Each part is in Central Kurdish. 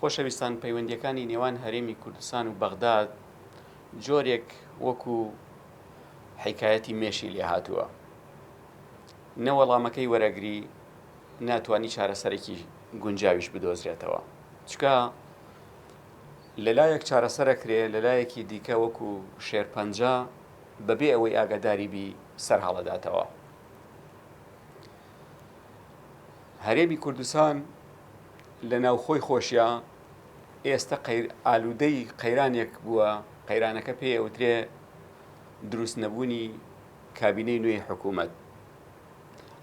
خۆشەویستان پەیوەندیەکانی نێوان هەرێمی کوردستان و بەغداد جۆرێک وەکو حیکایەتی مێشی لێهاتووە نە وەڵامەکەی وەرەگری ناتوانی چارەسەرێکی گونجاویش بدۆزرێتەوە چکە لەلایەک چارەسەرە کرێ لەلایەکی دیکە وەکو شێرپەنجە بەبێ ئەوەی ئاگاداری بی سەر هەڵەداتەوە هەرێمی کوردستان لە ناوخۆی خۆشیا ئێستە ئالوودەی قەیرانێک بووە، قەیرانەکە پێ ئەوترێ دروست نەبوونی کابینەی نوێی حکوومەت.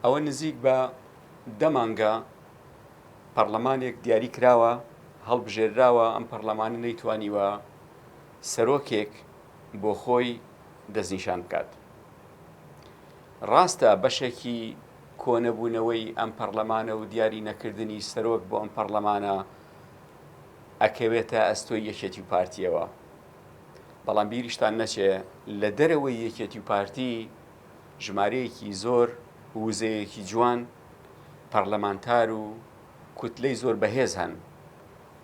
ئەوە نزیک بە دەمانگە پەرلەمانێک دیاری کراوە، هەڵبژێراوە، ئەم پەرلەمانە نەیتوانیوە سەرۆکێک بۆ خۆی دەستنیشان بکات. ڕاستە بەشێکی کۆنەبوونەوەی ئەم پەڕلەمانە و دیاری نەکردنی سەرۆک بۆ ئەم پەڕلەمانە ئەکەوێتە ئەستۆی یەکێتی و پارتیەوە بەڵام بیریشتان نەچێ لە دەرەوەی یەکێتی و پارتی ژمارەیەکی زۆر وزەیەکی جوان پەرلەمانتار و کوتلەی زۆر بەهێز هەن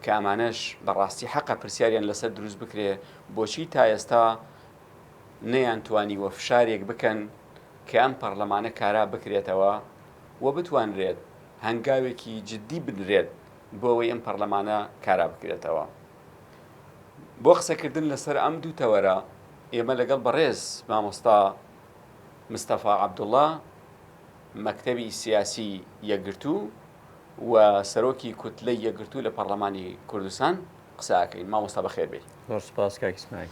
کە ئەمانەش بەڕاستی حەقە پرسیاریان لەسەر دروست بکرێ بۆچی تا ئێستا نەیان توانیوە فشارێک بکەن کە ئەم پەڕلەمانە کارا بکرێتەوە و بتوانرێت هەنگاوێکی جدی بنرێت بۆ ئەوەی ئەم پەڕلەمانە کارا بکرێتەوە. بۆ قسەکردن لەسەر ئەم دوو تەوەرە ئێمە لەگەڵ بەڕێز مامۆستا مستەفا عەبدوڵڵا مەکتەبی سیاسی یەکگرتوو و سەرۆکی کوتلەی یەکگرتوو لە پەڕلەمانی کوردستان قسە ئەکەین. مامۆستا بەخێر بێی. زۆر سوپاس کاک ئیسماعیل.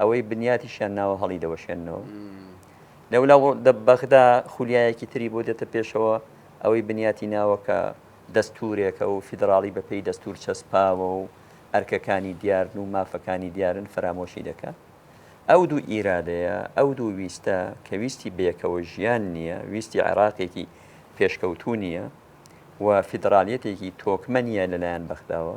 ئەوەی بنیاتیشیان ناوە هەڵیدەوەشێننەوە. لەولاوە دە بەغدا خولیایەکی تری بۆ دێتە پێشەوە، ئەوەی بنیاتی ناوە کە دەستوورێکە و فیدراڵی بەپێی دەستوور چەسپاوە و ئەرکەکانی دیارن و مافەکانی دیارن، فەرامۆشی دەکات. ئەو دوو ئیرادەیە، ئەو دوو ویستە کە ویستی بەیەکەوە ژیان نییە، ویستی عێراقێکی پێشکەوتوو نییە و فیدراڵیەتێکی تۆکمە نییە لەلایەن بەغداوە.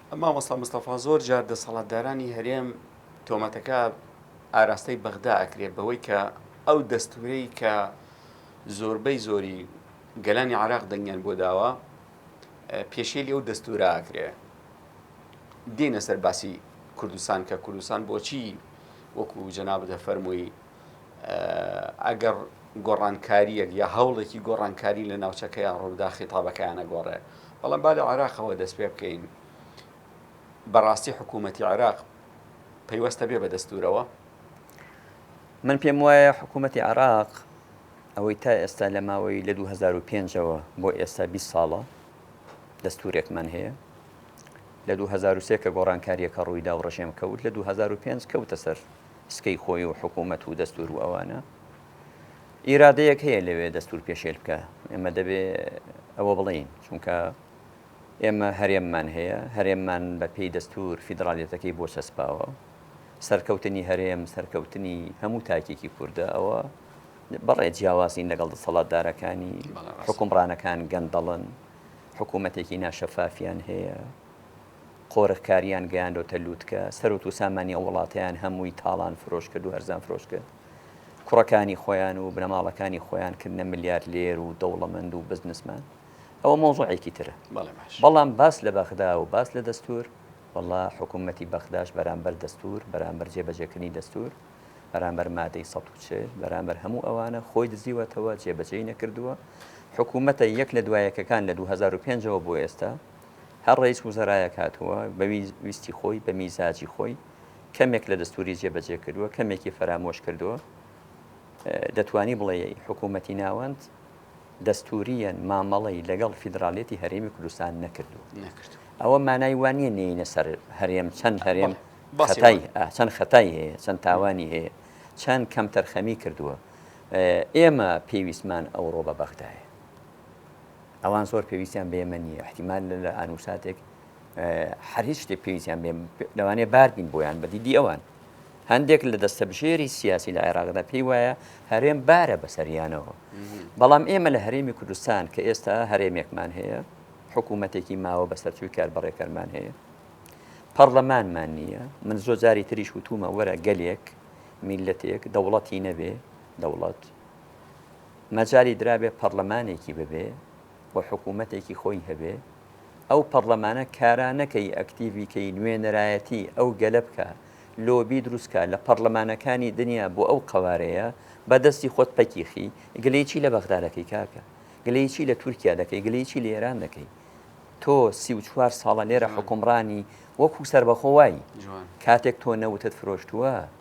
مامۆستا مستەفا زۆر جار دەسەڵاتدارانی هەرێم تۆمەتەکە ئاراستەی بەغدا ئەکرێت بەوەی کە ئەو دەستورەی کە زۆربەی زۆری گەلانی عراق دەنگیان بۆ داوە پێشێلی ئەو دەستورە ئاکرێ دێنە سەر باسی کوردستان کە کوردستان بۆچی وەکو جەنابدە فەرمووی ئەگەڕ گۆڕانکارییەک یا هەوڵێکی گۆڕانکاری لە ناوچەکەیان ڕوودا خیتابەکەیان ئەگۆڕێ. بەڵام با لە عێراقەوە دەست پێ بکەین. بەڕاستی حکوومەتی عێراق پەیوەستە بێ بە دەستوورەوە؟ من پێم وایە حکوومەتی عێراق ئەوەی تا ئێستا لە ماوەی لە 2005ەوە بۆ ئێستا 20 ساڵە دەستورێکمان هەیە لە 2023 کە گۆڕانکاریەکە ڕوویدا و ڕژێم کەوت لە 2005 کەوتە سەر سکەی خۆی و حکومەت و دەستور و ئەوانە ئیرادەیەک هەیە لەوێ دەستور پێشێل بکە ئێمە دەبێ ئەوە بڵین چونکە ئێمە هەرێممان هەیە هەرێممان بە پێی دەستور فیدراالەتەکەی بۆ چەسپاوە سەرکەوتنی هەرێم سەرکەوتنی هەموو تاکێکی کووردە ئەوە بەڵێ جیاوازین لەگەڵ دەسەڵاتدارەکانی حکومڕانەکان گەندەڵن حکوومەتێکی ناشەفافیان هەیە قۆرغکاریان گەیاندۆتە لوتکە، سەروەت وسامانی ئەو وڵاتەیان هەمووی تاڵان فرۆش کرد و هەرزان فرۆش کرد، کوڕەکانی خۆیان و بنەماڵەکانی خۆیان کردنە ملیارلێر و دەوڵەمەند و بزنسمان، ئەوە مەوزوعێکی ترە، بەڵام باس لە بەغدا و باس لە دەستور، وەڵا حکومەتی بەغداش بەرامبەر دەستور، بەرامبەر جێبەجێکردنی دەستور، بەرامبەر مادەی سەد و چل، بەرامبەر هەموو ئەوانە خۆی دزیوەتەوە، جێبەجێی نەکردووە، حکومەتە یەک لە دوای یەکەکان لە دوو هەزار و پێنج ەوە بۆ ئێستا، هەر ڕەئیس وزەرایەک هاتووە بە ویستی خۆی بە میزاجی خۆی کەمێک لە دەستووری جێبەجێ کردووە کەمێکی فەرامۆش کردووە دەتوانی بڵێ حکوومەتی ناوەند دەستوریان مامەڵی لەگەڵ فیدراالێتی هەرێمی کوردستان نەکردو نەکرد ئەوە مانای وانە نینە سەر هەرێم چەند هەرێم بەسای چەند خەتای هەیە چەند تاوانی هەیە چەند کەم تەرخەمی کردووە ئێمە پێویستمان ئەوڕۆ بە بەغدایە ئەوان زۆر پێویستیان بە ئێمە نییە، ئیحتیمال لە ئانوو ساتێک هەر هیچ شتێک پێویستیان بێ لەوانەیە بار بین بۆیان بە دیدی ئەوان. هەندێک لە دەستەبژێری سیاسی لە عێراقدا پێی وایە هەرێم بارە بەسەریانەوە. بەڵام ئێمە لە هەرێمی کوردستان کە ئێستا هەرێمێکمان هەیە، حکوومەتێکی ماوە بەسەرچووی کاربەڕێکەرمان هەیە. پەڕلەمانمان نییە، من زۆر جاری تریش وتوومە وەرە گەلێک، میللەتێک، دەوڵەتی نەبێ، دەوڵەت، مەجالی درابێ پەڕلەمانێکی ببێ و حکوومەتێکی خۆی هەبێ، ئەو پەڕلەمانە کارا نەکەی ئەکتیڤی کەی نوێنەرایەتی ئەو گەلە بکا، لۆبی دروست کا لە پەڕلەمانەکانی دنیا بۆ ئەو قەوارەیە، بە دەستی خۆت پەکی خی، گلەی چی لە بەغدا دەکەی کاکە؟ گلەی چی لە تورکیا دەکەی؟ گلەی چی لە ئێران دەکەی؟ تۆ سی و چوار ساڵە لێرە حوکمڕانی وەکوو سەربەخۆ وای، کاتێک تۆ نەوتت فرۆشتووە،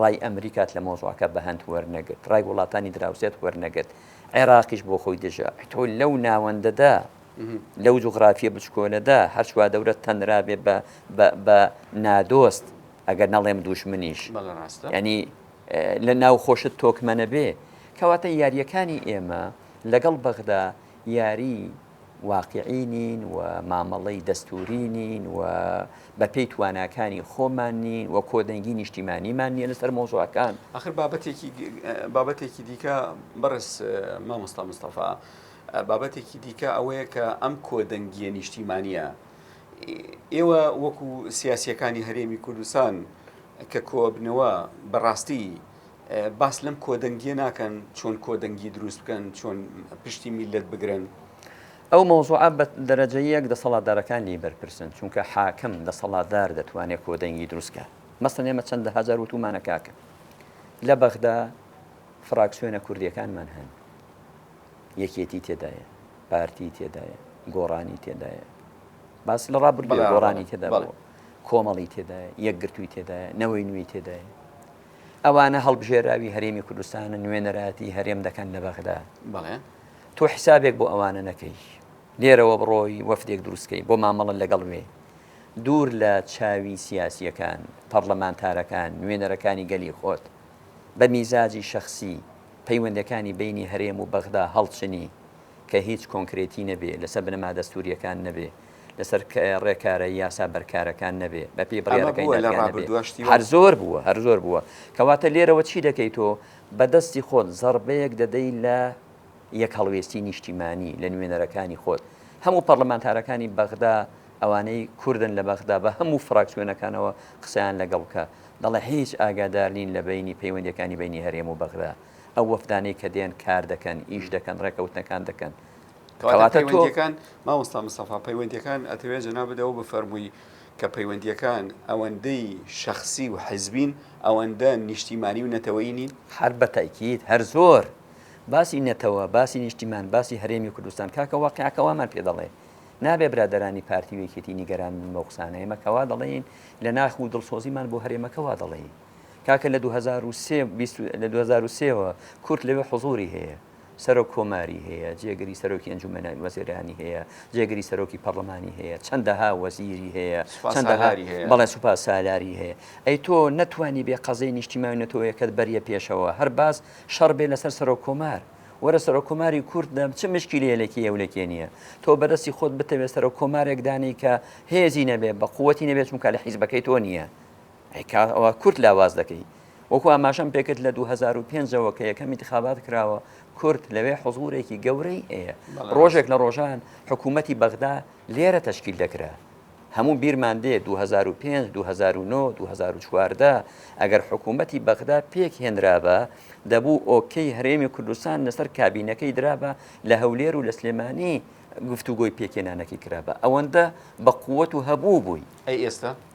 ڕای ئەمریکات لە مەوزوعەکە بەهەند وەرنەگرت، ڕای وڵاتانی دراوسێت وەرنەگرت، عێراقیش بۆ خۆی دژە، تۆ لەو ناوەندەدا، لەو جوغرافیە بچکۆلەدا، هەر چوادەورەت تەنرابێ بە بە بە نادۆست، ئەگەر نەڵێم دووژمنیش، یانی لە ناوخۆشت تۆکمە نەبێ، کەواتە یاریەکانی ئێمە لەگەڵ بەغدا یاری. واقیعی نین و مامەڵەی دەستووری نین و بەپێی تواناکانی خۆمان نین و کۆدەنگی نیشتیمانیمان نیە لەسەر مۆزوعەکان ئەخر بابەتێکی بابەتێکی دیکە بەڕێز مامۆستا مستەفا بابەتێکی دیکە ئەوەیە کە ئەم کۆدەنگیە نیشتیمانە ئێوە وەکو سیاسیەکانی هەرێمی کوردستان کە کۆبنەوە بەڕاستی باس لەم کۆدەنگیە ناکەن چۆن کۆدەنگی دروست بکەن چۆن پشتی میلەت بگرن. ئەو مەوزوعە بە دەرەجە یەک دەسەڵاتدارەکان لێی بەرپرسن چونکە حاکم دەسەڵاتدار دەتوانێت کۆدەنگی دروست کات مەسەن ئێمە چەندە هەزار وتومانە کاکە لە بەغدا فراکسیۆنە کوردیەکانمان هەن یەکێتی تێدایە پارتی تێدایە گۆڕانی تێدایە باس لە ڕابردوو گۆڕانی تێدا کۆمەڵی تێدایە یەکگرتووی تێدایە نەوەی نوێی تێدایە ئەوانە هەڵبژێراوی هەرێمی کوردستانە نوێنەرایەتی هەرێم دەکەن لە بەغدا بەڵێ تۆ حسابێک بۆ ئەوانە نەکەی لێرەوە بڕۆی وەفدێک دروستکەی بۆ مامەڵە لەگەڵ وێ دوور لە چاوی سیاسیەکان پەرلەمانتارەکان نوێنەرەکانی گەلی خۆت بە میزاجی شخصی پەیوەندەکانی بینی هەرێم و بەغدا هەڵچنی کە هیچ کۆنکرێتی نەبێ لەسەر بنەما دەستوریەکان نەبێ لەسەر ڕێکارە یاسا بەرکارەکان نەبێ بە پێی بڕیارەکەی نەبێ هەر زۆر بووە هەر زۆر بووە کەواتە لێرەوە چی دەکەیت تۆ بەدەستی خۆت زەڕبەیەک دەدەی لە یەک هەڵوێستی نیشتیمانی لە نوێنەرەکانی خۆت هەموو پەرلەمانتارەکانی بەغدا ئەوانەی کوردن لە بەغدا بە هەموو فراکسیۆنەکانەوە قسەیان لەگەڵ بکە دەڵێ هیچ ئاگادار نین لە بینی پەیوەندەکانی بینی هەرێم و بەغدا ئەو وەفدانەی کە دێن کار دەکەن ئیش دەکەن ڕێکەوتنەکان دەکەن کەواتە پەیوەندیەکان مامۆستا مستەفا پەیوەندیەکان ئەتەوێت جەنا بدەوە بە فەرمووی کە پەیوەندیەکان ئەوەندەی شخصی و حزبین ئەوەندە نیشتیمانی و نەتەوەی نین هەر بە تاکیید هەر زۆر باسی نەتەوە باسی نیشتیمان باسی هەرێمی کوردستان کاکە واقعەکە وامان پێ دەڵێ نابێ برادرانی پارتی و یەکێتی نیگەران من بە قسانە ئێمە کەوا دەڵێین لە ناخ و دڵسۆزیمان بۆ هەرێمەکەوا دەڵێین کاکە لە 2023 لە 2023ەوە کورت لەوێ حزوری هەیە سەرۆک کۆماری هەیە، جێگری سەرۆکی ئەنجومەنە وەزێرانی هەیە، جێگری سەرۆکی پەڕڵەمانی هەیە، چەندەها وەزیری هەیە، چەندەها بەڵێ سوپا سالاری هەیە، ئەی تۆ نەتوانی بێ قەزێی نیشتیمانی نەتەوەیەکەت بەریە پێشەوە، هەر باس شەڕ بێ لەسەر سەرۆک کۆمار، وەرە سەرۆک کۆماری کورد دە چ مشکیلەیە لەکی یە و لەکێ نییە، تۆ بەدەستی خۆت بتەوێ سەرۆک کۆمارێک دانێی کە هێزی نەبێ بە قوەتی نەبێ چونکە لە حیزبەکەی تۆ نییە، ئەی کا ئەوە کورد لاواز دەکەی وەکو ئاماژەم پێکرد لە 2005ەوە کە یەکەم انتخابات کراوە کورد لەوێ حزورێکی گەورەی هەیە ڕۆژێک لە ڕۆژان حکوومەتی بەغدا لێرە تشکیل دەکرا هەموو بیرمان دێ 2005 2009 2014 ئەگەر حکوومەتی بەغدا پێک هێنرابە دەبوو ئۆکەی هەرێمی کوردستان لەسەر کابینەکەی درابە لە هەولێر و لە سلێمانی گفتوگۆی پێکێنانەکەی کرابە ئەوەندە بە قووەت و هەبوو بووی ئەی ئێستا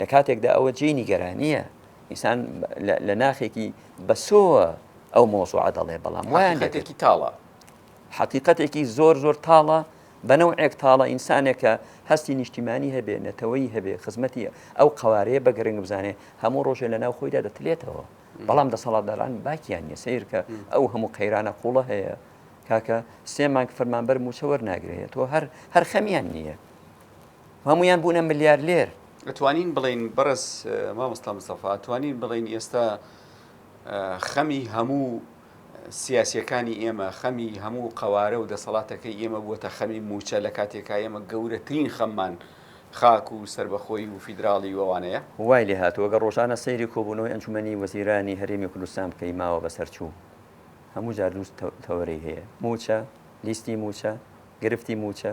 لە کاتێکدا ئەوە جێی نیگەرانییە ئینسان لە ناخێکی بەسۆوە ئەو مۆزوعە دەڵێ بەڵام وایان دەێتێکی تاڵە حقیقەتێکی زۆر زۆر تاڵە بەنەو ئێک تاڵە ئینسانێکە هەستی نیشتیمانی هەبێ نەتەوەی هەبێ خزمەتی ئەو قوارەیە بە گرنگ بزانێ هەموو ڕۆژێ لە ناو خۆیدا دەتلێتەوە بەڵام دەسەڵاتداران باکیان نیە سیرکە ئەو هەموو قەیرانە قوڵە هەیە کاکە سێ مانگ فەرمانبەر موچەوەەر ناگرێت تۆ هەر هەر خەمیان نییە هەموویان بوونە ملیارلێر. ئەتوانین بڵێین بەڕێز مامۆستا مستەفا ئەتوانین بڵێین ئێستا خەمی هەموو سیاسیەکانی ئێمە خەمی هەموو قەوارە و دەسەڵاتەکەی ئێمە بووەتە خەمی موچە لە کاتێکا ئێمە گەورەترین خەممان خاک و سربەخۆی و فیدراڵی ووانەیە وای لێ هاتووە گە ڕۆژانە سەیری کۆبوونەوەی ئەنجومەنی وەزیرانی هەرێمی کوردستان بکەی ماوە بەسەرچوو هەموو جار دوو تەوەرەی هەیە موچە لیستی موچە گرفتی موچە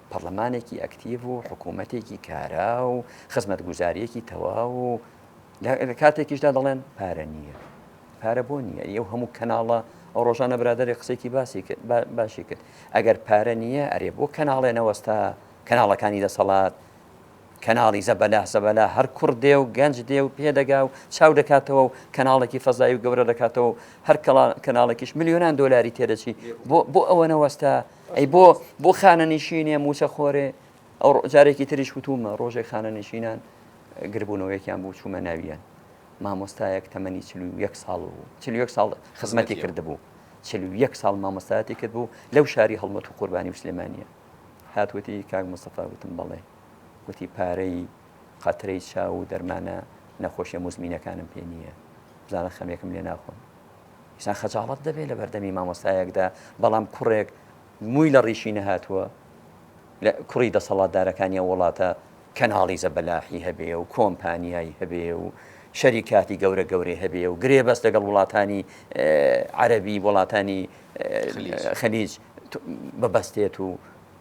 پەڕلەمانێکی ئەکتیڤ و حکوومەتێکی کارا و خزمەتگوزارییەکی تەواو و لە کاتێکیشدا دەڵێن پارە نییە پارە بۆ نییە ئەو هەموو کەناڵە ئەو ڕۆژانە برادێک قسێکی باسی کرد باشی کرد ئەگەر پارە نییە ئەرێ بۆ کەناڵێ نەوەستا کەناڵەکانی دەسەڵات کەناڵی زەبەلا زەبەلا هەر کوڕ دێ و گەنج دێ و پێدەگا و چاو دەکاتەوە و کەناڵێکی فەزای و گەورە دەکاتەوە هەر کەناڵێکیش میلیۆنان دۆلاری تێدەچی بۆ بۆ ئەوە نەوەستا ئەی بۆ بۆ خانەنیشینێ موچە خۆرێ ئەو جارێکی تریش وتومە ڕۆژێک خانەنیشینان گربوونەوە یەکیان بوو چوومە ناویان مامۆستایەک تەمەنی چ یەک ساڵ بوو چ یەک ساڵ خزمەتی کردبوو چ یەک ساڵ مامۆستایەتی کرد بوو لەو شاری هەڵمەت و قوربانی و سلێمانە هاتوەتی کاک مستەفا وتم بەڵێ وتی پارەی قەترەی چاو و دەرمانە نەخۆشیە مزمینەکانم پێ نییە بزانە خەمێکم لێ ناخۆن ئینسان خەجاڵەت دەبێت لە بەردەمی مامۆستایەکدا بەڵام کوڕێک مووی لە ڕیشی نەهاتووە لە کوڕی دەسەڵاتدارەکانی ئەو وڵاتە کەناڵی زەبەلاحی هەبێ و کۆمپانیایی هەبێ و شەریکاتی گەورە گەورەی هەبێ و گرێ بەس لەگەڵ وڵاتانی عەربی وڵاتانی خەلیج بەبەستێت و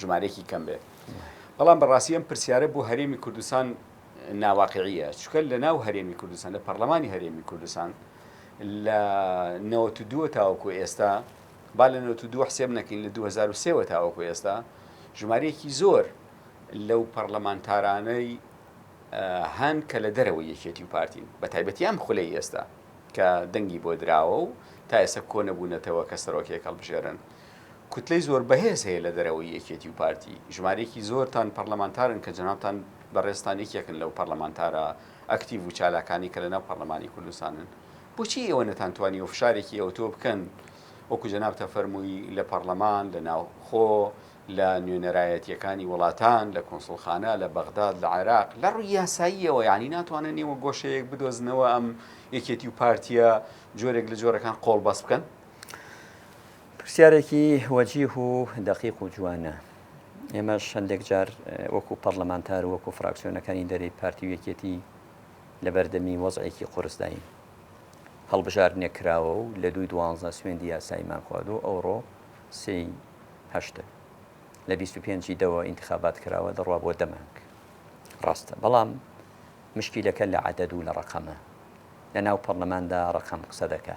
ژمارەیەکی کەم بێت بەڵام بەڕاستی ئەم پرسیارە بۆ هەرێمی کوردستان ناواقعیە چکە لە ناو هەرێمی کوردستان لە پەرلەمانی هەرێمی کوردستان لە 92 تاوەکو ئێستا با لە 92 حسێب نەکەین لە 2023 تاوەکو ئێستا ژمارەیەکی زۆر لەو پەرلەمانتارانەی هەن کە لە دەرەوە یەکێتی و پارتین بە تایبەتی ئەم خولەی ئێستا کە دەنگی بۆ دراوە و تا ئێستا کۆ نەبوونەتەوە کە سەرۆکێک هەڵبژێرن کوتلەی زۆر بەهێز هەیە لە دەرەوەی یەکێتی و پارتی، ژمارەیەکی زۆرتان پەڕلەمانتارن کە جەنابتان بەڕێزتان یەکێکن لەو پەڕلەمانتارە ئەکتیڤ و چالاکانەی کە لەناو پەڕلەمانی کوردستانن، بۆچی ئێوە نەتانتوانیوە فشارێکی ئەوتۆ بکەن وەکو جەنابتە فەرمووی لە پەڕلەمان، لە ناوخۆ، لە نوێنەرایەتییەکانی وڵاتان، لە کونسوڵخانە، لە بەغداد، لە عێراق، لە ڕووی یاساییەوە یانی ناتوانن ئێوە گۆشەیەک بدۆزنەوە ئەم یەکێتی و پارتییە جۆرێک لە جۆرەکان قۆڵبەست بکەن؟ پرسیارێکی وەجیه و دەقیق و جوانە. ئێمەش هەندێک جار وەکو پەڕلەمانتار و وەکو فراکسیۆنەکانی دەرەی پارتی و یەکێتی لە بەردەمی وەزعێکی قورسداین. هەڵبژاردنێک کراوە و لە دووی دوانزە سوێندی یاساییمان خوارد و ئەوڕۆ سێی هەشتە. لە بیست و پێنجی دەوە ئینتخابات کراوە دەڕوا بۆ دە مانگ. ڕاستە. بەڵام مشکیلەکە لە عەدەد و لە ڕەقەمە. لەناو پەڕلەماندا ڕەقەم قسە دەکا.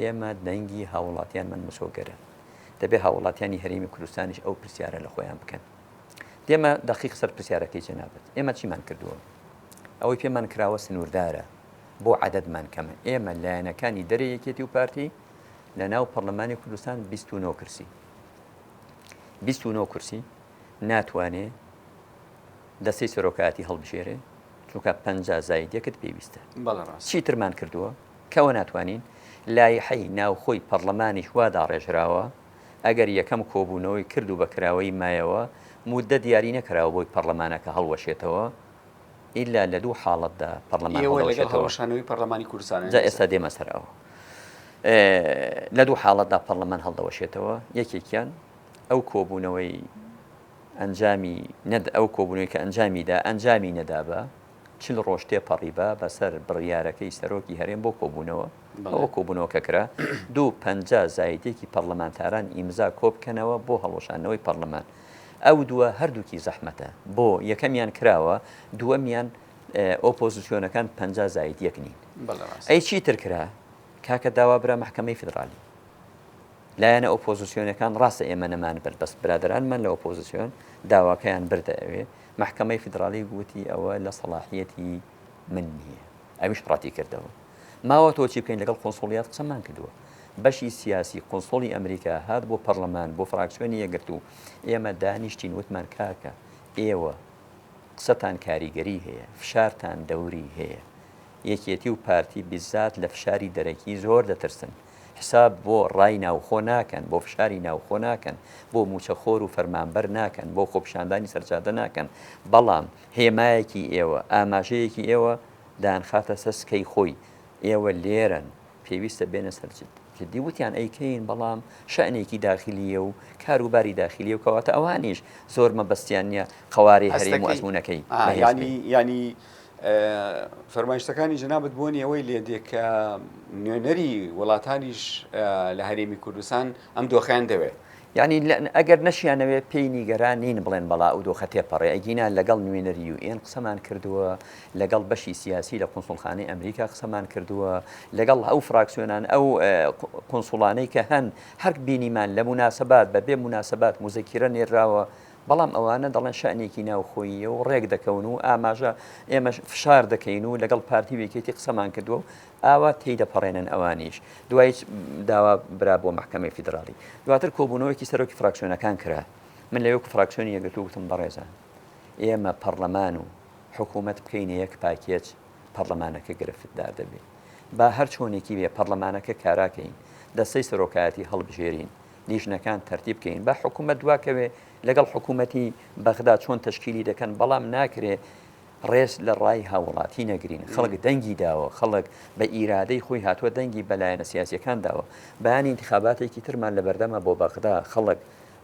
ئێمە دەنگی هاووڵاتیانمان مسۆگەرە، دەبێت هاووڵاتیانی هەرێمی کوردستانیش ئەو پرسیارە لە خۆیان بکەن. دێمە دەقیق سەر پرسیارەکەی جەنابت، ئێمە چیمان کردووە؟ ئەوەی پێمان کراوە سنووردارە، بۆ عەدەدمان کەمە؟ ئێمە لایەنەکانی دەرێ یەکێتی و پارتی لە ناو پەڕلەمانی کوردستان بیست و نۆ کورسی بیست و نۆ کورسی ناتوانێ دەستەی سەرۆکایەتی هەڵبژێرێ چونکە پەنجا زایدەکت پێویستە بەڵێ ڕاست چی ترمان کردووە؟ کوا ناتوانین؟ لایحەی ناوخۆی پەڕڵەمانیش وا داڕێژراوە ئەگەر یەکەم کۆبوونەوەی کرد و بە کراوەیی مایەوە، موددەت دیاری نەکراوە بۆی پەڕڵەمانەکە هەڵوەشێتەوە، ئیلا لە دوو حاڵەتدا پەڕڵەمان هەڵدەوەشێتەوە. ئێوە لەگەڵ هەڵوەشانەوەی پەڕڵەمانی کوردستانن؟ جا ئێستا دێمە سەر ئەوە. لە دوو حاڵەتدا پەڕڵەمان هەڵدەوەشێتەوە، یەکێکیان ئەو کۆبوونەوەی ئەنجامی نەد، ئەو کۆبوونەوەی کە ئەنجامی دا، ئەنجامی نەدابا، چل ڕۆژ تێپەڕیبا بەسەر بڕیارەکەی سەرۆکی هەرێم بۆ کۆبوونەوە، ئەوە کۆبوونەوە کە کرا، دوو پەنجا زایدێکی پەڕلەمانتاران ئیمزا کۆبکەنەوە بۆ هەڵوەشاندنەوەی پەڕلەمان. ئەو دووە هەردووکی زەحمەتە. بۆ یەکەمیان کراوە، دووەمیان ئۆپۆزسیۆنەکان پەنجا زاید یەک نین. ئەی چی تر کرا؟ کاکە داوا برا مەحکەمەی فیدڕالی. لایەنە ئۆپۆزسیۆنەکان ڕاستە ئێمە نەمانبرد بەس برادەرانمان لە ئۆپۆزسیۆن داواکەیان بردە ئەوێ، مەحکەمەی فیدراڵی گوتی ئەوە لە سەڵاحییەتی من نییە. ئەویش ڕەتیکردەوە. ماوەتەوە چی بکەین؟ لەگەڵ قونسوڵیات قسەمان کردووە. بەشی سیاسی قونسوڵی ئەمریکا هات بۆ پەڕلەمان، بۆ فراکسیۆنی یەکگرتوو. ئێمە دانیشتین وتمان کاکە ئێوە قسەتان کاریگەری هەیە، فشارتان دەوری هەیە. یەکێتی و پارتی بیزات لە فشاری دەرەکی زۆر دەترسن. حساب بۆ ڕای ناوخۆ ناکەن، بۆ فشاری ناوخۆ ناکەن، بۆ مووچەخۆر و فەرمانبەر ناکەن، بۆ خۆپیشاندانی سەرجادە ناکەن، بەڵام هێمایەکی ئێوە، ئاماژەیەکی ئێوە دایانخاتە سەر سکەی خۆی، ئێوە لێرەن، پێویستە بێنە سەر جد. جدی وتیان ئەیکەین، بەڵام شەئنێکی داخلییە و کار و باری داخلییە و کەواتە ئەوانیش زۆر مەبەستیان نییە قەوارەی هەرێم و ئەزموونەکەی بەهێز بێت. یانی یانی فەرمایشتەکانی جەنابت بۆ نیەوەی لێ دێ کە نوێنەری وڵاتانیش لە هەرێمی کوردستان ئەم دۆخیان دەوێت یعنی ئەگەر نەشیانەوێت پێی نیگەران نین بڵێن بەڵا و دۆخە تێپەڕێ ئەگینا لەگەڵ نوێنەری یو ئێن قسەمان کردووە لەگەڵ بەشی سیاسی لە قونسڵخانەی ئەمریکا قسەمان کردووە لەگەڵ ئەو فراکسیۆنان ئەو قونسڵانەی کە هەن هەرک بینیمان لە مناسبات بە بێ مناسبات مزەکیرە نێراوە بەڵام ئەوانە دەڵێن شەئنێکی ناوخۆییە و ڕێک دەکەون و ئاماژە ئێمەش فشار دەکەین و لەگەڵ پارتی و یەکێتی قسەمان کردووە و ئاوا تێیدەپەڕێنن ئەوانیش دوای داوا برا بۆ مەحکەمەی فیدراڵی دواتر کۆبوونەوەیەکی سەرۆکی فراکسیۆنەکان کرا من لە وەکو فراکسیۆنی یەکگرتوو گوتم بەڕێزان ئێمە پەرلەمان و حکوومەت بکەینە یەک پاکێج پەرلەمانەکە گرفتدار دەبێت با هەر چۆنێکی بێ پەرلەمانەکە کاراکەین دەستەی سەرۆکایەتی هەڵبژێرین لیژنەکان تەرتیب کەین با حکوومەت دواکەوێ لەگەڵ حکوومەتی بەغدا چۆن تەشکیلی دەکەن بەڵام ناکرێ ڕێز لە ڕای هاوڵاتی نەگرین خەڵک دەنگی داوە خەڵک بە ئیرادەی خۆی هاتووە دەنگی بەلایەنە سیاسەکان داوە بەیانی انتخاباتێکی ترمان لە بەردەمە بۆ بەغدا خەڵک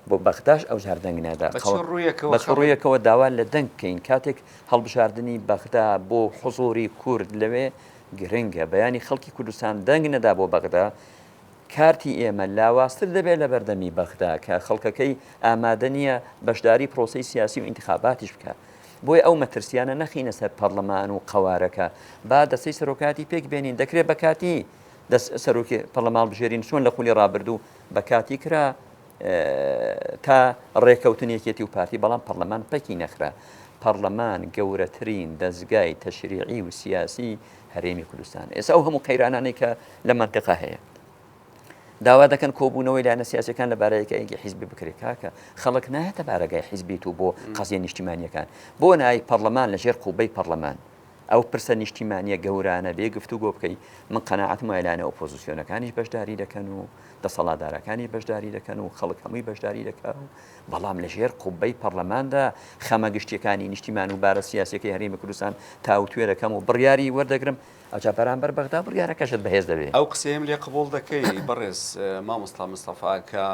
بۆ بەغداش ئەو جار دەنگ نادا ڕویەکەوە داوا لە دەنگ بکەین کاتێک هەڵبژاردننی بەغدا بۆ حزۆری کورد لەوێ گرنگە بەیانی خەڵکی کوردستان دەنگ نەدا بۆ بەغدا کارتی ئێمە لاوازتر دەبێت لە بەردەمی بەغدا کە خەڵکەکەی ئامادە نییە بەشداری پرۆسەی سیاسی و ئینتخاباتیش بکە بۆی ئەو مەترسیانە نەخینە سەر پەرلەمان و قەوارەکە با دەسەی سەرۆکاتی پێک بێنین دەکرێت بە کاتی دەست سەرۆکی پەرلەمان بژێرین چۆن لە خولی ڕابردوو بە کاتی کرا تا ڕێکەوتن یەکێتی و پارتی بەڵام پەرلەمان پەکی نەخرا پەرلەمان گەورەترین دەستگای تەشریعی و سیاسی هەرێمی کوردستان ئێستا ئەو هەموو قەیرانانەی کە لە مەنتقا هەیە داوا دەکەن کۆبوونەوەی لایەنە سیاسەکان لە بارەیەکەیەکی حیزبی بکرێت کاکە خەڵک نایەتە بارەگای حیزبیت و بۆ قەزیە نیشتیمانیەکان بۆ نای پەرلەمان لە ژێر قوبەی پەرلەمان ئەو پرسە نیشتیمانیە گەورانە بێ گفتو گۆ بکەیت من قەنەعاتم وایلانە ئۆپۆزیسیۆنەکانیش بەشداری دەکەن و دەسەڵاتدارەکانی بەشداری دەکەن و خەڵک هەمووی بەشداری دەکات و بەڵام لە ژێر قوبەی پەڕلەماندا خەمە گشتیەکانی نیشتیمان و بارە سیاسیەکەی هەرێمی کوردستان تاوتوێ دەکەم و بڕیاری وەردەگرم، ئەوجا بەرامبەر بەغدا بڕیارەکەشت بەهێز دەبێ. ئەو قسەیەم لێ قبوڵ دەکەی بەڕێز مامۆستا مستەفا کە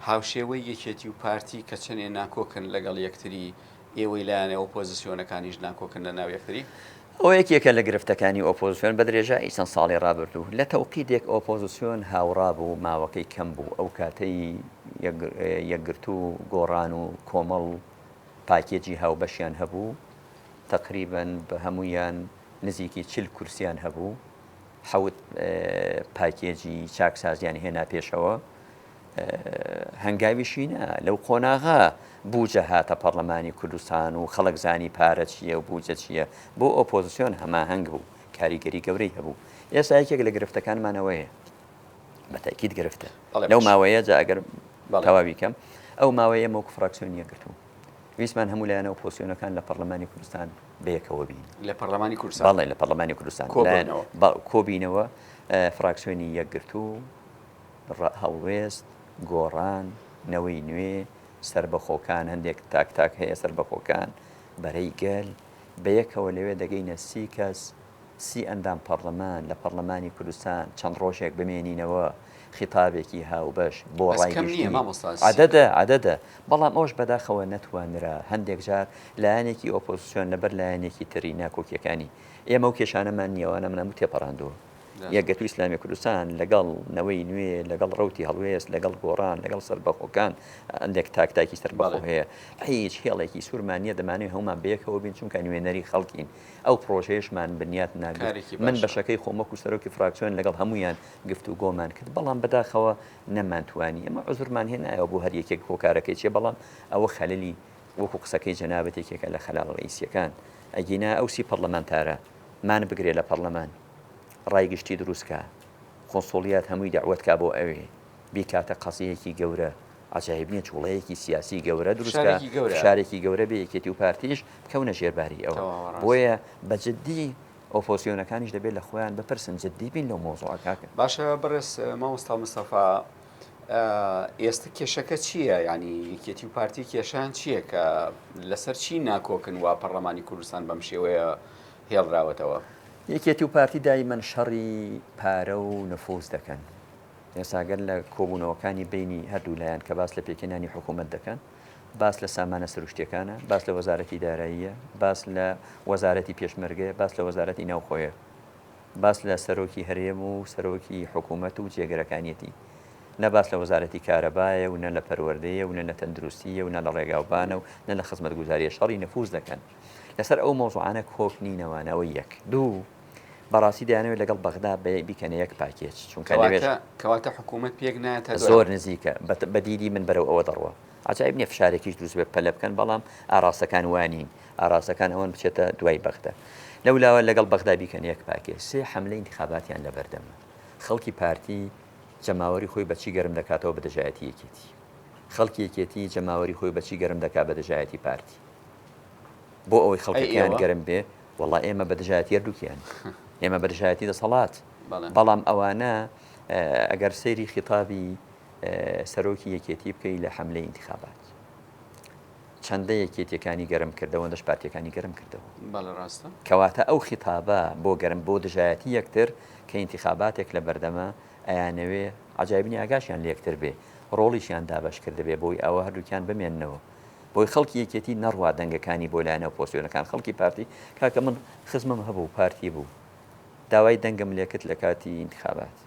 هاوشێوەی یەکێتی و پارتی کە چەنێ ناکۆکن لەگەڵ یەکتری ئێوەی لایەنە ئۆپۆزسیۆنەکانیش ناکۆکن لە ناو یەکتری. ئەوە یەکێکە لە گرفتەکانی ئۆپۆزسیۆن بە درێژایی چەند ساڵی ڕابردوو. لە تەوقیتێک ئۆپۆزسیۆن هاوڕا بوو ماوەکەی کەم بوو، ئەو کاتەی یەکگرتوو و گۆڕان و کۆمەڵ پاکێجی هاوبەشیان هەبوو، تەقریبەن بە هەموویان نزیکی چل کورسییان هەبوو، حەوت پاکێجی چاکسازیان هێنا پێشەوە. هەنگاویشی نا، لەو قۆناغە بوجە هاتە پەڕلەمانی کوردستان و خەڵک زانی پارە چییە و بوجە چییە، بۆ ئۆپۆزسیۆن هەماهەنگ بوو، کاریگەری گەورەی هەبوو. ئێستا یەکێک لە گرفتەکانمان ئەوەیە، بە تەئکید گرفتە، لەو ماوەیە جا ئەگەر تەواوی بکەم، ئەو ماوەیە مووک فراکسیۆن یەکگرتوو، ویستمان هەموو لایەنە ئۆپۆزسیۆنەکان لە پەڕلەمانی کوردستان بە یەکەوە بین. لە پەڕلەمانی کوردستان؟ بەڵێ، لە پەڕلەمانی کوردستان کۆ بینەوە، کۆ بینەوە فراکسیۆنی یەکگرتوو، هەڵوێست، گۆڕان، نەوەی نوێ، سەربەخۆکان، هەندێک تاک تاک هەیە، سەربەخۆکان، بەرەی گەل، بەیەکەوە لەوێ دەگەینە سی کەس، سی ئەندام پەڕلەمان، لە پەڕلەمانی کوردستان چەند ڕۆژێک بمێنینەوە، خیتابێکی هاوبەش بۆ ڕای گشتی، عەدەدە، عەدەدە، بەڵام ئەوەش بەداخەوە نەتوانرا، هەندێک جار لایەنێکی ئۆپۆزسیۆن لەبەر لایەنێکی تری ناکۆکییەکانی ئێمە و کێشانەمان نییە، ئەوانەمان هەموو تێپەڕاندووە. یەکگرتووی ئیسلامی کوردستان لەگەڵ نەوەی نوێ، لەگەڵ ڕەوتی هەڵوێست، لەگەڵ گۆڕان، لەگەڵ سەربەخۆکان، ئەندێک تاک تاکی سەربەخۆ هەیە. هیچ هێڵێکی سوورمان نییە، دەمانەوێت هەموومان بەیەکەوە بین، چونکە نوێنەری خەڵکین. ئەو پڕۆژەیەشمان بنیات ناگرت. من بەشەکەی خۆم وەکو سەرۆکی فراکسیۆن لەگەڵ هەموویان گفتوگۆمان کرد، بەڵام بەداخەوە نەمانتوانی. ئێمە عوزرمان هێ نایەوە بۆ هەر یەکێک هۆکارەکەی چییە، بەڵام ئەوە خەلەلی وەکو قسەکەی جەنابت یەکێکە لە خەلال ڕەئیسییەکان. ئەگینا ئەو سی پەڕلەمانتارە، مان بگرێ لە پەڕلەمان ڕای گشتی دروست کا قونسوڵیات هەمووی دەعوەت کا بۆ ئەوێ بیکاتە قەزیەیەکی گەورە عەجایب نیە جوڵەیەکی سیاسی گەورە دروست کا فشارێکی گەورە بێ یەکێتی و پارتیش بکەونە ژێر باری ئەوە بۆیە بە جدی ئۆپۆسیۆنەکانیش دەبێت لە خۆیان بپرسن جدی بین لەو مەوزوعە کاکە. باشە بەڕێز مامۆستا مستەفا ئێستا کێشەکە چییە ینی یەکێتی و پارتی کێشان چییە کە لەسەر چی ناکۆکن وا پەڕلەمانی کوردستان بەم شێوەیە هێڵراوەتەوە یەکێتی و پارتی دایمەن شەڕی پارە و نفوس دەکەن ئێساگەر لە کۆبوونەوەکانی بینی هەردوو لایەن کە باس لە پێکێنانی حکوومەت دەکەن باس لە سامانە سروشتەکانە باس لە وەزارەتی داراییە باس لە وەزارەتی پێشمەرگەیە باس لە وەزارەتی ناوخۆیە باس لە سەرۆکی هەرێم و سەرۆکی حکوومەت و جێگرەکانیەتی، نە باس لە وەزارەتی کارەبایە و نە لە پەروەردەیە و نە لە تەندروستییە و نە لە ڕێگاوبانە و نە لە خزمەتگوزارییە شەڕی نفووز دەکەن. لەسەر ئەو مەوزوعانە کۆک نینەوە، ئەوە یەک. دوو، بەڕاستی دەیانەوێت لەگەڵ بەغدا بیکەنە یەک پاکێج، چونکە لەوێش. کەواتە حکوومەت پێک نایەتە دوای. زۆر نزیکە، بە دیدی من بەرەو ئەوە دەڕوا. عەجایب نیە فشارێکیش دروست بێت پەلە بکەن، بەڵام ئاراستەکان وا نین، ئاراستەکان ئەوەن بچێتە دوای بەغدا. لەولاوە لەگەڵ بەغدا بیکەنە یەک پاکێ. سێ حەملەی ئینتیخاباتیان لەبەردەمە. خەڵکی پارتی جەماوەری خۆی بە چی گەرم دەکاتەوە بە دژایەتی یەکێتی؟ خەڵکی یەکێتی جەماوەری خۆی بە چی گەرم دەکات بە دژایەتی پارتی؟ بۆ ئەوەی خەڵکەکەیان گەرم بێ، وەڵا ئێمە بە دژایەتی هەردووکیان. ئێمە بە دژایەتی دەسەڵات. بەڵام ئەوانە ئەگەر سەیری خیتابی سەرۆکی یەکێتی بکەی لە حەملەی ئینتیخابات چەندە یەکێتیەکانی گەرم کردەوە دەش پارتەکانی گەرم کردەوە کەواتە ئەو خیتابە بۆ گەرم بۆ دژایەتی یەکتر کە ئینتیخاباتێک لە بەردەمە ئەیانەوێ عجایبنی ئاگاشیان لەکتر بێ ڕۆڵیشیان دابش کردبێ بۆی ئەوە هەردووکیان بمێنەوە بۆی خەڵکی یەکێتی نەڕوا دەنگەکانی بۆ لایەنە پۆسیۆنەکان خەڵکی پارتی کاکە من خزمم هەبوو پارتی بوو داوای دەنگم لەکت لە کاتی ئینتخابات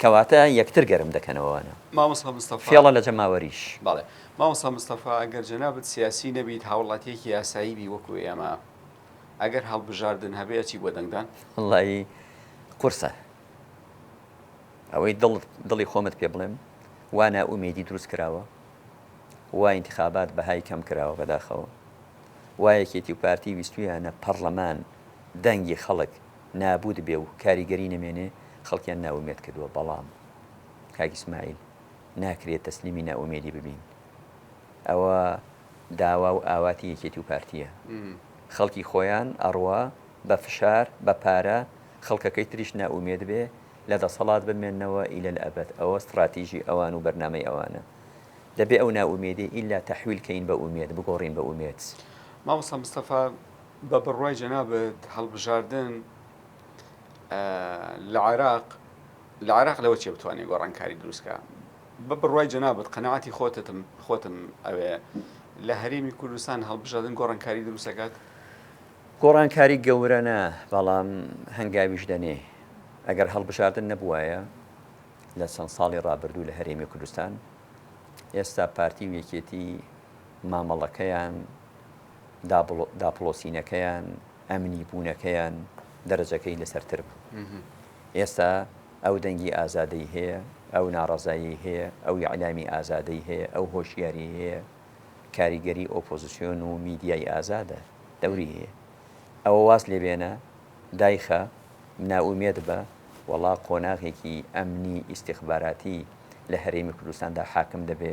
کەواتە یەکتر گەرم دەکەنەوە وانە؟ مامۆستا مستەفا. فێڵە لە جەماوەریش. بەڵێ. مامۆستا مستەفا ئەگەر جەنابت سیاسی نەبیت هاوڵاتیەکی ئاسایی بی وەکو ئێمە ئەگەر هەڵبژاردن هەبێ ئەچی بۆ دەنگدان؟ وەڵایی قورسە ئەوەی دڵت دڵی خۆمت پێ بڵێم وا نائومێدی دروست کراوە وا ئینتخابات بەهای کەم کراوە بەداخەوە وا یەکێتی و پارتی ویستویانە پەڕڵەمان دەنگی خەڵک نابووت بێ و کاریگەری نەمێنێ خەڵکیان نائومێد کردووە بەڵام کاک ئیسماعیل ناکرێ تەسلیمی نائومێدی ببین ئەوە داوا و ئاواتی یەکێتی و پارتییە خەڵکی خۆیان ئەڕوا بە فشار بە پارە خەڵکەکەی تریش نائومێد بێ لە دەسەڵات بمێنەوە ئیلە لە ئەبەد ئەوە ستڕاتیژی ئەوان و بەرنامەی ئەوانە دەبێ ئەو نائومێدی ئیلا تەحویل کەین بە ئومێد بگۆڕین بە ئومێد. مامۆستا مستەفا بە بڕوای جەنابت هەڵبژاردن لە عێراق لە عێراق لەوە چێ بتوانێت گۆڕانکاری دروستکە بە بڕوای جەنابەت قەنەعاتی خۆتتم خۆتم ئەوێ لە هەرێمی کوردستان هەڵبژادن گۆڕانکاری دروستەکات گۆڕانکاری گەورەە بەڵام هەنگاویش دەنێ ئەگەر هەڵبژاردن نەبووایە لە چەند ساڵی ڕابردوو لە هەرێمی کوردستان ئێستا پارتی و یەکێتی مامەڵەکەیان داپڵۆسینەکەیان، ئەمنی بوونەکەیان دەرەجەکەی لەسەرتر بوو. ئێستا ئەو دەنگی ئازادەی هەیە، ئەو ناڕەزایی هەیە، ئەو ئیعلامی ئازادەی هەیە، ئەو هۆشیاری هەیە، کاریگەری ئۆپۆزسیۆن و میدیای ئازادە دەوری هەیە. ئەوە واز لێ بێنە، دایخە، نائومێد بە، وەڵا قۆناغێکی ئەمنی ئیستیخباراتی لە هەرێمی کوردستاندا حاکم دەبێ،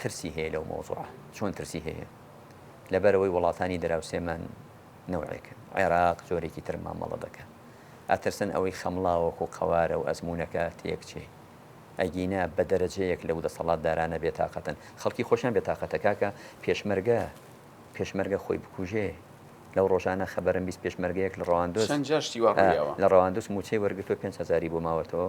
ترسی هەیە لەو مەوزوعە چۆن ترسی هەیە لەبەرەوەی وڵاتانی دراوسێمان نەوعێکن عێراق جۆرێکی تر مامەڵە دەکەن ئەترسن ئەوەی خەمڵاوەک و قەوارە و ئەزمونونەکە تێکچێ ئەگینا بە دەرەجەیەک لەو دەسەڵات دارانە بێتاقەتن خەڵکی خۆشیان بێتاقەتە کاکە پێشمەرگە پێشمەرگە خۆی بکوژێ لەو ڕۆژانە خەبەرم بیست پێشمەرگەیەک لە ڕەواندۆ لە ڕەواندوس موچەی وەرگتو 5 هزاری بۆ ماوەتەوە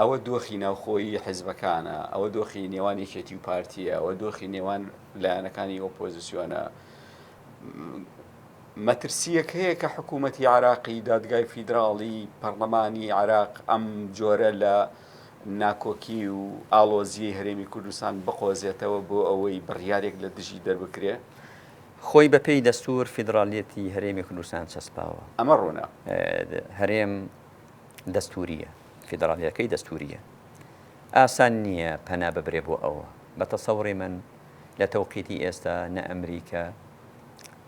ئەوە دۆخی ناوخۆیی حیزبەکانە، ئەوە دۆخی نێوان یەکێتی و پارتیە، ئەوە دۆخی نێوان لایەنەکانی ئۆپۆزیسیۆنە. مەترسیەک هەیە کە حکوومەتتی عراقی دادگای فیدراڵی پەرلەمانی عراق ئەم جۆرە لە ناکۆکی و ئالۆزیی هەرێمی کوردستان بقۆزێتەوە بۆ ئەوەی بڕیارێک لە دژی دەربکرێ خۆی بە پێی دەستور فیدراالیەتی هەرێمی کوردستان چەسپاوە ئەمە ڕوونە هەرێم دەستوورییە فیدراڵییەکەی دەستوورییە ئاسان نییە پەنا ببرێ بۆ ئەوە. بە تەسەوڕی من لە تەوقیتی ئێستا نە ئەمریکا،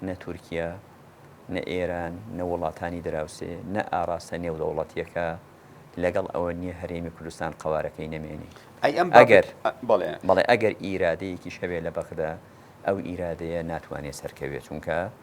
نە تورکیە، نە ئێران، نە وڵاتانی دراوسێ، نە ئاراستە نێودەوڵەتییەکە لەگەڵ ئەوە نییە هەرێمی کوردستان قەوارەکەی نەمێنێ. ئەگەر، بەڵێ ئەگەر ئیرادەیەکیش هەبێ لە بەغدا، ئەو ئیرادەیە ناتوانێ سەرکەوێ چونکە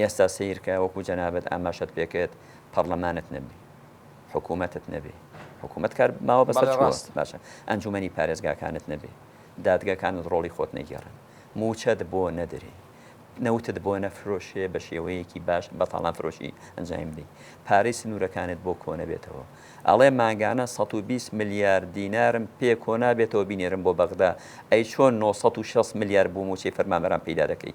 ئێستا سەیرکە وەکو جەنابت ئاماژەت پێکرد پەڕلەمانت نەبی حکومەتت نەبی حکومەت کار ماوە بەسەر بەڵێ چووە ڕاستە باشە ئەنجومەنی پارێزگاکانت نەبی دادگاکانت ڕۆڵی خۆت نەگێڕن مووچەت بۆ نەدرێ نەوتت بۆ نەفرۆشرێ بە شێوەیەکی باش بە تاڵان فرۆشی ئەنجایم بدەی پارەی سنوورەکانت بۆ کۆنەبێتەوە ئەڵێ مانگانە سەد و بیست ملیار دینارم پێ کۆنابێتەوە بینێرم بۆ بەغدا ئەی چۆن نۆ سەد و شەست ملیار بۆ مووچەی فەرمانبەران پەیدا دەکەی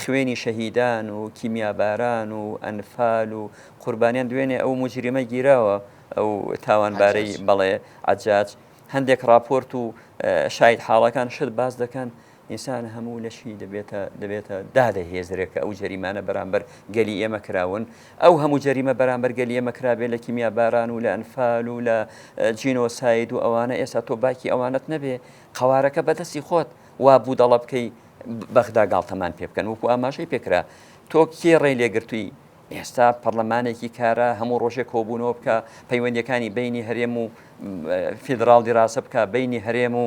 خوێنی شەهیدان و کیمیاباران و ئەنفال و قوربانیان دوێنێ ئەو موجریمە گیراوە ئەو تاوانبارەی بەڵێ عجاج هەندێک راپۆرت و شاید حاڵەکان شت باز دەکەن ئینسان هەموو لەشی دەبێتە دەبێتە دادە هێزرێک کە ئەو جەریمانە بەرامبەر گەلی ئێمە کراون ئەو هەموو جەریمە بەرامبەر گەلی ئێمە کرابێ لە کیمیا باران و لە ئەنفال و لە جینۆساید و ئەوانە ئێستا تۆ باکی ئەوانت نەبێ قوارەکە بەدەستی خۆت وا بودەڵە بکەی بەغدا گاڵتەمان پێ بکەن وەکو ئاماژەی پێکرا تۆ کێ ڕێی لێگرتووی ئێستا پەرلەمانێکی کارە هەموو ڕۆژێک کۆبوونەوە بکە پەیوەندەکانی بینی هەرێم و فیدراال دیراسە بکە بینی هەرێم و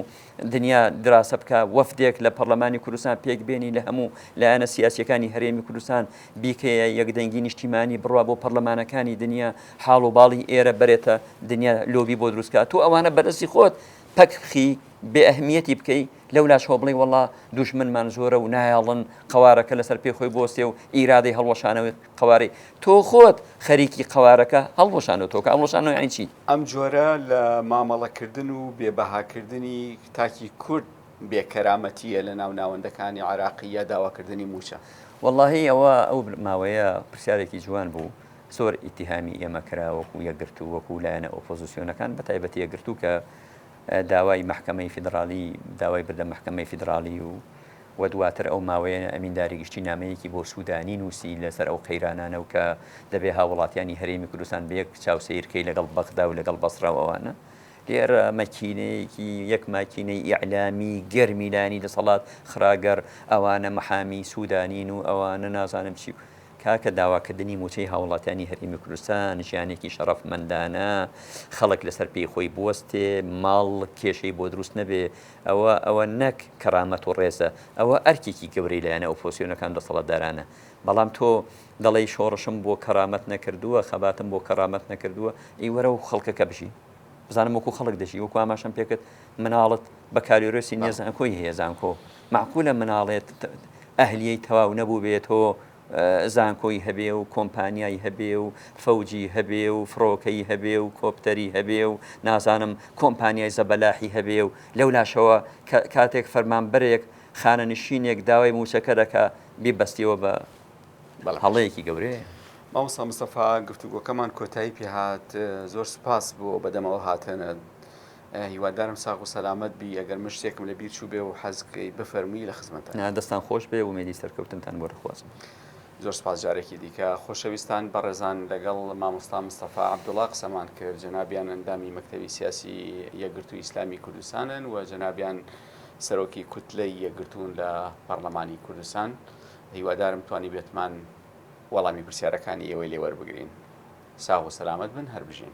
دنیا دراسە بکە وەفدێک لە پەرلەمانی کوردستان پێک بێنی لە هەموو لایەنە سیاسەکانی هەرێمی کوردستان بیکەیە یەکدەنگی نیشتیمانی بڕوا بۆ پەرلەمانەکانی دنیا حاڵ و باڵی ئێرە بەرێتە دنیا لۆبی بۆ دروستکە تۆ ئەوانە بەرەسی خۆت پەک بخی بێ ئەهمیەتی بکەی لەولاش هۆ بڵێ وەڵا دوژمنمان زۆرە و نایەڵن قەوارەکە لەسەر پێ خۆی بۆستێ و ئیرادەی هەڵوەشانەوەی قەوارەی تۆ خۆت خەریکی قەوارەکە هەڵوەشانەوە تۆکە ئەڵوەشانەوە یانی چی؟ ئەم جۆرە لە مامەڵەکردن و بێ بەهاکردنی تاکی کورد بێ کەرامەتییە لە ناو ناوەندەکانی عێراقی یا داواکردنی مووچە. وەڵاهی ئەوە ئەو ماوەیە پرسیارێکی جوان بوو. زۆر ئیتیهامی ئێمە کرا وەکو یەکگرتوو، وەکو لایەنە ئۆپۆزسیۆنەکان، بە تایبەتی یەکگرتوو کە داوای مەحکەمەی فیدڕاڵی داوای بردە مەحکەمەی فیدڕاڵی و و دواتر ئەو ماوەیە ئەمین داری گشتی نامەیەکی بۆ سوودانی نووسی لەسەر ئەو قەیرانانە و کە دەبێ هاووڵاتیانی هەرێمی کوردستان بە یەک چاو سەیر کەی لەگەڵ بەغدا و لەگەڵ بەسڕا و ئەوانە. لێرە مەکینەیەکی یەک ماکینەی ئیعلامی گەرمی لایەنی دەسەڵات خرا گەڕ، ئەوانە مەحامی سوودانین و ئەوانە نازانم چی و. کاکە داواکردنی مووچەی هاوڵاتیانی هەرێمی کوردستان ژیانێکی شەڕەفمەندانە، خەڵک لەسەر پێی خۆی بوەستێ، ماڵ کێشەی بۆ دروست نەبێ، ئەوە ئەوە نەک کەرامەت و ڕێزە، ئەوە ئەرکێکی گەورەی لایەنە ئۆپۆسیۆنەکان و دەسەڵاتدارانە، بەڵام تۆ دەڵێی شۆڕشم بۆ کەرامەت نەکردووە، خەباتم بۆ کەرامەت نەکردووە، ئەی وەرە و خەڵکەکە بژی. بزانم وەکو خەڵک دەژی وەکو ئاماشەم پێکرد مناڵت بە کاریۆرسی نێ زانکۆی هەیە زانکۆ معقولە مناڵێت ئەهلیەی تەواو نەبوو بێتەوە زانکۆی هەبێ و کۆمپانیای هەبێ و فەوجی هەبێ و فڕۆکەی هەبێ و کۆپتەری هەبێ و نازانم کۆمپانیای زەبەلاحی هەبێ و لەو لاشەوە کاتێک فەرمانبەرێک خانەنشینێک داوای موچەکە دەکە بیبەستیەوە بە هەڵەیەکی گەورەیە. مامۆستا مستەفا گفتوگۆکەمان کۆتایی پێهات زۆر سوپاس بۆ بەدەمەوە هاتنت هیوادارم ساغ و سەلامەت بی ئەگەر من شتێکم لە بیر چوو بێ و حەزکەی بفەرمووی لە خزمەت دەستان خۆش بێ ومێدی سەرکەوتنتان بۆ دەخوازم. زۆر سپاس جارێکی دیکە خۆشەویستان بەڕێزان لەگەڵ مامۆستا مستەفا عبدوڵا قسەمان کرد جەنابیان ئەندامی مەکتەوی سیاسی یەکگرتوو ئیسلامی کوردستانن و جەنابیان سەرۆکی کوتلەی یەکگرتوون لە پەرلەمانی کوردستان هیوادارم توانیبێتمان وەڵامی پرسیارەکانی ئێوەی لێ وەربگرین. ساغ و سەلامەت بن، هەر بژین.